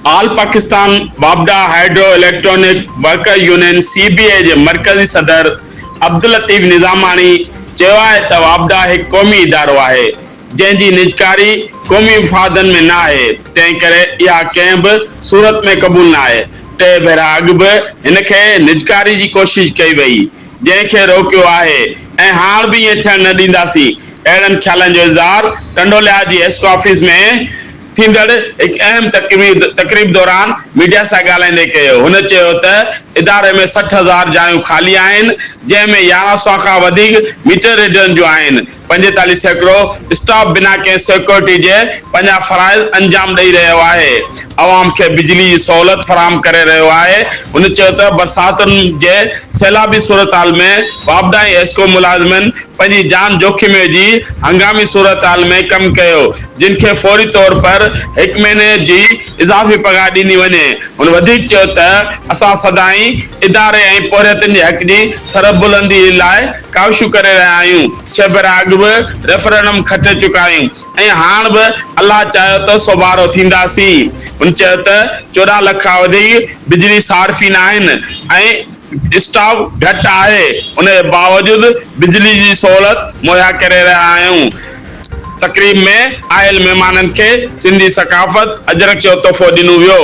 آل پاڪستان واپڊا hydro electronic worker union, C B A, جي مرڪزي صدر عبداللطيف نظاماڻي چيو آهي ته واپڊا هڪ قومي ادارو آهي جنهن جي نجڪاري قومي مفادن ۾ نه آهي تنهنڪري اها ڪنهن به صورت ۾ قبول نه آهي، ٽي ڀيرا اڳ به هن کي نجڪاري جي ڪوشش ڪئي وئي جنهن کي روڪيو آهي ۽ هاڻ به ائين ٿيڻ نه ڏينداسين، اهڙن خيالن جو اظهار ٽنڊو لحاظ جي ايسٽ آفيس ۾ ٿيندڙ هڪ اهم تقريب دوران ميڊيا سان ڳالهائيندي ڪيو، هن چيو ته اداري ۾ سٺ هزار جايون خالي آهن جنهن ۾ يارهن سؤ کان وڌيڪ ميٽر ريڊرن جون آهن، پنجيتاليهه سيڪڙو اسٽاف بنا ڪنهن سيڪيورٽي جي پنهنجا فرائض انجام ڏئي رهيو آهي، عوام کي بجلي جي سهولت فراهم ڪري رهيو آهي. هن چيو ته برساتن جي سيلابي صورتحال ۾ واپڊائي ايسڪو ملازمن پنهنجي جان جوکم وجهي هنگامي صورتحال ۾ ڪم ڪيو جن کي فوري طور پر هڪ مهيني جي اضافي پگهار ڏني وڃي. هن وڌيڪ چيو ته اسان سدائين اداري ۽ پورهيتن جي حق جي سربلندي لاء ڪاوشون ڪري رهيا آهيون، ڇهه ڀيرا اڳ به ريفرنڊم کٽي چڪا آهيون ۽ هاڻ به الله چاهيو ته سوڀارو ٿينداسين. هن چيو ته چوڏهن لک کان وڌيڪ بجلي صارفين آهن ۽ اسٽاف گهٽ آهي، ان جي باوجود بجلي جي سهولت مهيا ڪري رهيا آهيون. تقريب ۾ آيل مهمانن کي سنڌي ثقافت اجرڪ جو تحفو ڏنو ويو.